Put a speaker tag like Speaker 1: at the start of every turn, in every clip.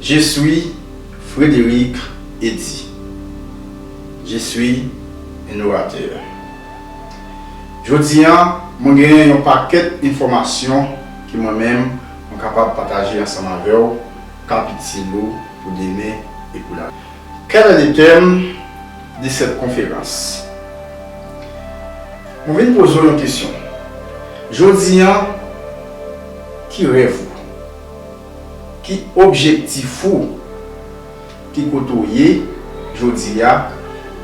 Speaker 1: Je suis Frédéric Eddy. Je suis un orateur. Jodi an, mwen genyen yon pakèt enfòmasyon ke mwen menm mwen kapab pataje ansanm avè w k ap itil ou pou demen e pou lavi. Quel est le thème de cette conférence? Mwen vin poze w yon kesyon jodi an, ki rèv ou? Ki objektif ou? Ki kote ou ye jodi a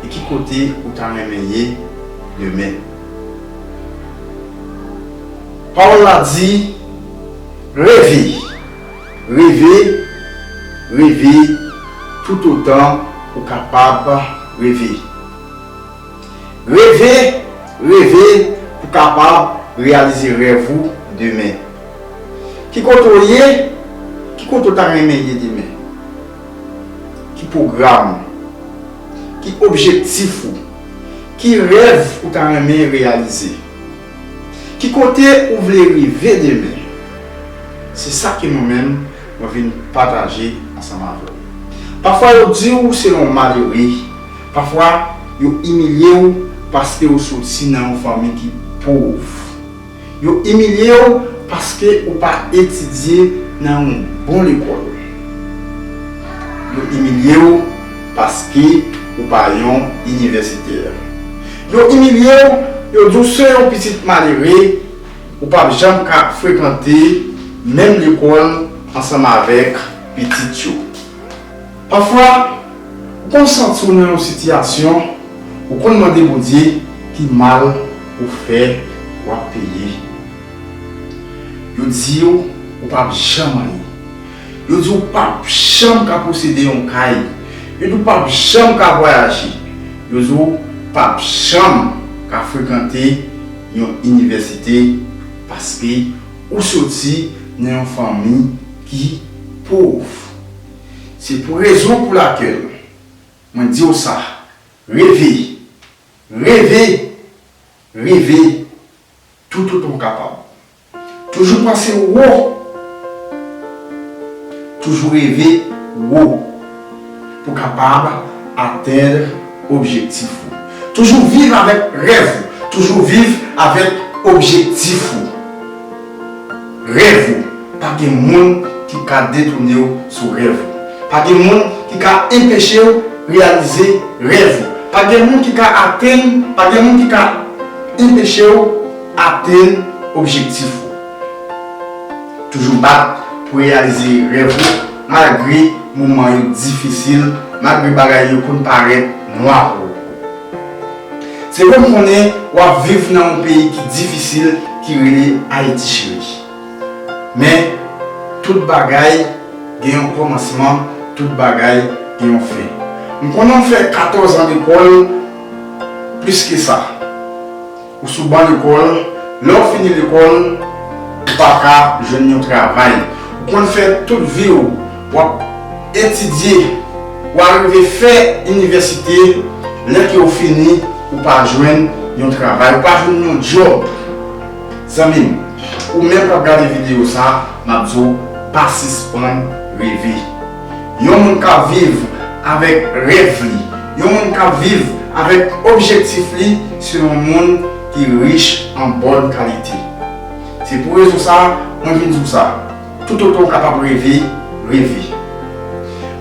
Speaker 1: e ki kote ou ta renmen ye demen? Pawòl la di, Reve! Reve! Reve toutotan ou kapab reve! Reve, reve pou kapab reyalize rèv ou demen. Ki kote w ye? Ki kote w ta renmen ye demen? Ki pwogram ou? Ki objektif ou? Ki rèv ou ta renmen reyalize? Ki kote ou vle rive demen? Se sa ke mwen menm mwen vin pataje ansanm avè w. Pafwa yo di w se yon malere. Pafwa, yo imilye w paske ou soti nan yon fanmi ki pov. Yo imilye w paske ou pa etidye nan yon bon lekòl. Yo imilye w paske ou pa yon inivèsitè. Yo imilye w, yo di w se yon pitit malere, ou pa p janm ka frekante menm lekòl ansanm avèk pitit yo. Pafwa, ou konn santi w nan yon sitiyasyon ou konn mande Bondye ki mal ou fè w ap peye. Yo di w ou pap janm anyen. Yo di w pap janm ka posede yon kay. Yo di w pap janm ka vwayaje. Yo di w pap janm ka frekante yon inivèsite paske ou soti nan yon fanmi ki pov. Se pou rezon pou lakèl mwen di w sa, reve, reve, reve tout otan w kapab. Toujou panse wo, toujou reve wo pou w kapab atenn objektif ou. Toujou viv avèk rèv ou, toujou viv avèk objektif ou. Rèv ou, pa gen moun ki ka detounew sou rèv ou. Pa gen moun ki ka enpechew reyalize rèv ou. Pa gen moun ki ka atenn, pa gen moun ki ka enpechew atenn objektif ou. Toujou bat pou reyalize rèv ou malgre moman yo difisil, malgre bagay yo konn parèt nwa pou ou. Se pou m konnen w ap viv nan yon peyi ki difisil ki rele Ayiti cheri. Men, tout bagay gen yon kòmansman, tout bagay gen yon fen. M konnen w fè katòz an lekòl, plis ke sa. Ou sou ban lekòl, lè ou fini lekòl, ou pa ka jwenn yon travay. Ou konn fè tout vi ou, w ap etidye, ou arive fè inivèsite, lè ke ou fini, ou pa jwenn yon travay, ou pa jwenn yon djòb. Zanmi m, ou menm k ap gade videyo sa, m ap di w, pa sispann reve. Yon moun kap viv avèk rèv li, yon moun kap viv avèk objektif li se yon moun ki rich an bòn kalite. Se pou rezon sa mwen vin di w sa, toutotan w kapab reve, reve.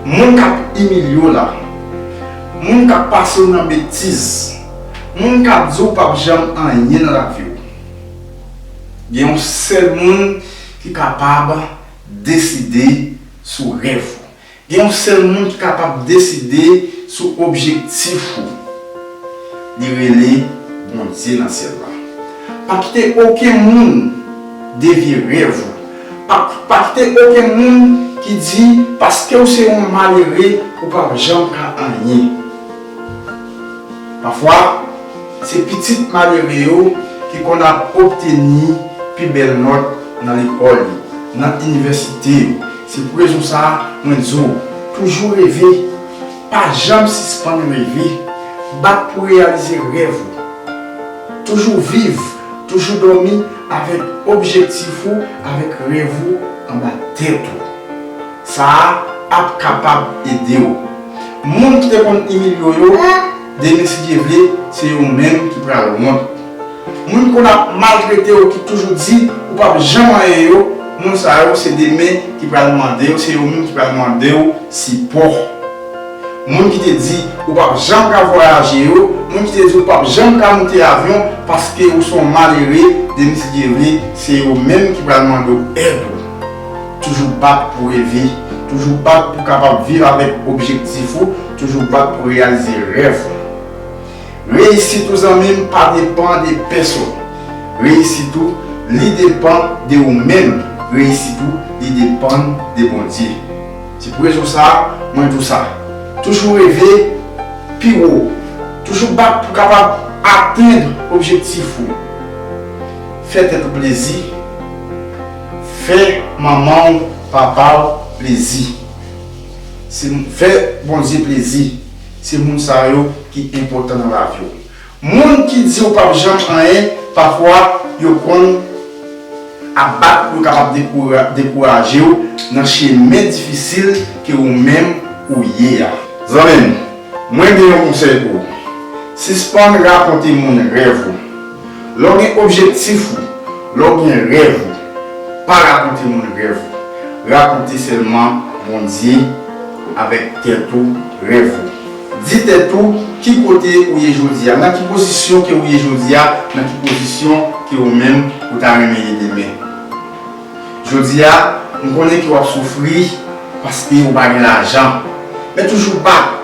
Speaker 1: Moun kap imilye w la, moun kap pase w nan betiz, moun kap di w pap janm anyen nan lavi w, gen yon sèl moun ki kapab deside. sou rèv ou. Gen yon sèl moun ki kapab deside sou objektif ou. Li rele Bondye nan syèl la. Pa kite okenn moun devye rèv ou. Pa kite okenn moun ki di paske ou se yon malere ou pap janm ka anyen. Pafwa. Se pitit malere yo ki konn ap obteni pi bèl nòt nan lekòl yo, nan inivèsite yo. Se pou rezon sa a mwen di w, toujou reve, pa janm sispann reve, bat pou reyalize rèv ou. Toujou viv, toujou dòmi avèk objektif ou, avèk rèv ou anba tèt ou. Sa a ap kapab ede w. Moun ki te konn Emilio yo. Denis si Dye vle se yo menm ki pral wont. Moun konn ap maltrete w ki toujou di ou pap janm anyen yo, moun sa yo se demen ki pral mande yo se yo menm ki pral mande w sipò. Moun ki te di ou pap janm ka vwayaje yo, moun ki te di ou pap janm ka moute avyon paske ou son malere demen si Dye vle se yo menm ki pral mande w èd ou. Toujou bat pou reve, toujou bat pou kapab viv avèk objektif ou, Toujou bat pou reyalize rèv ou. Reyisit ou zanmim pa depan de pèsonn. Reyisit ou li depan de ou menm. Reyisit ou li depann de Bondye. Se pou rezon sa mwen di w sa. Toujou reve pi wo. Toujou bat pou kapab atenn objektif ou. Fè tèt ou plezi. Fè manman w, papa w plezi. Se fè Bondye plezi. Se moun sa yo ki enpòtan nan lavi w. Moun ki di ou pap janm anyen pafwa yo konn ap bat pou yo kapab dekouraje w nan chemen difisil ke ou menm ou ye a. Zanmi m, mwen gen yon konsèy pou ou. Sispann rakonte moun rèv ou. Lè w gen objektif ou, lè w gen rèv ou, pa rakonte moun rèv ou. Rakonte sèlman Bondye avèk tèt ou rèv ou. Di tèt ou ki kote ou ye jodi a, nan ki pozisyon ke ou ye jodi a, nan ki pozisyon ke ou menm ou ta renmen ye demen. Jodi a, m konnen ke w ap soufri paske ou pa gen lajan. Men toujou bat,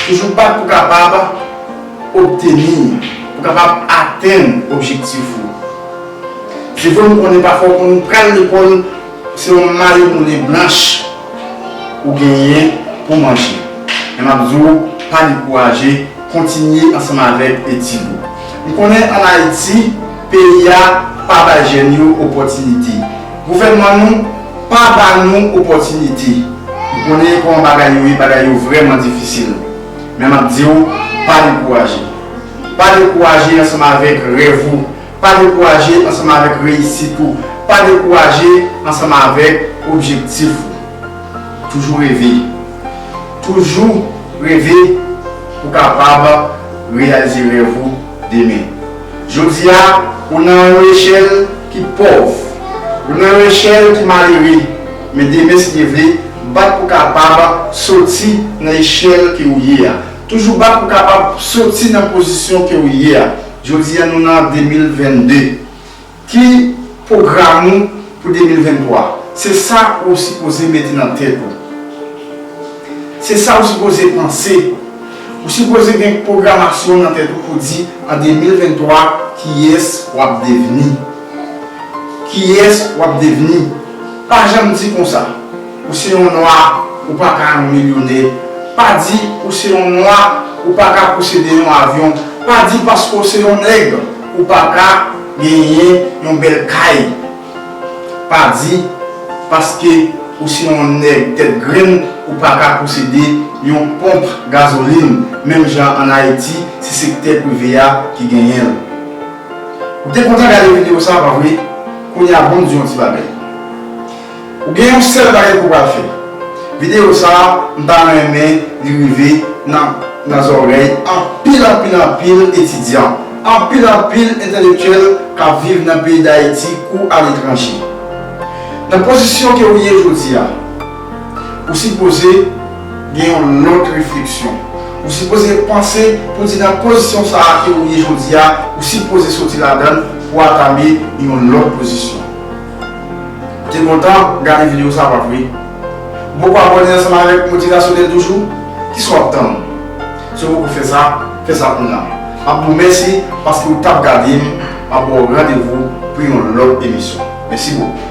Speaker 1: toujou bat pou kapab obteni, pou kapab atenn objektif ou. Se vre m konnen pafwa w konn pral lekòl se yon malemole blanch ou genyen pou manje. Men m ap di w pa dekouraje, kontinye ansanm avèk etid ou. M konnen an Ayiti, Peyi a pa bay jèn yo opòtinite. Gouvènman nou pa ba nou opòtinite. M konnen kòman bagay yo ye, bagay yo vrèman difisil. Men m ap di ou, pa dekouraje. Pa dekouraje ansanm avèk rèv ou. Pa dekouraje ansanm avèk reyisit ou. Pa dekouraje ansanm avèk objektif ou. Toujou reve. Toujou reve pou w kapab reyalize rèv ou. demen. Jodi a, ou nan yon echèl ki pòv. Ou nan yon echèl ki malere. Men demen si Dye vle, bat pou kapab soti nan echèl ke ou ye a. Toujou bat pou kapab soti nan pozisyon ke ou ye a. Jodi a nou nan 2022. Ki pwogram ou pou 2023? Se sa ou sipoze mete nan tèt ou. Se sa ou sipoze panse. Ou sipoze gen pwogramasyon nan tèt ou pou di an 2023 kiyès w ap devni. Kiyès w ap devni? Pa janm di konsa. Ou se yon nwa ou pa ka yon milyonè pa di ou se yon nwa ou pa ka posede yon avyon pa di paske w se yon nèg ou pa ka genyen yon bèl kay pa di paske ou se yon nèg tèt grenn ou pa ka posede yon ponp gazolin menm jan an ayiti se sektè prive a ki genyen l ou te kontan gade video sa pa vre kounya bon di yon ti bagay. Ou gen yon sèl bagay ke w pral fè. Videyo sa a, m ta renmen li rive nan zòrèy anpil anpil anpil etidyan, anpil anpil entelektyèl k ap viv nan peyi Dayiti kou aletranje. Nan pozisyon ke ou ye jodi a, ou sipoze gen yon lòt refleksyon. Ou sipoze panse pou di nan pozisyon sa a ke ou ye jodi a, ou sipoze soti ladan l pou atame yon lòt pozisyon. Te kontan gade video sa pap wi. Boko abone ansanm avek motivasyonel toujou, kisa wap tann? Si w poko fè sa, fè sa kounya. Map di w mèsi paske w tap gade m, map ba w randevou pou yon lòt emisyon. Mèsi bokou.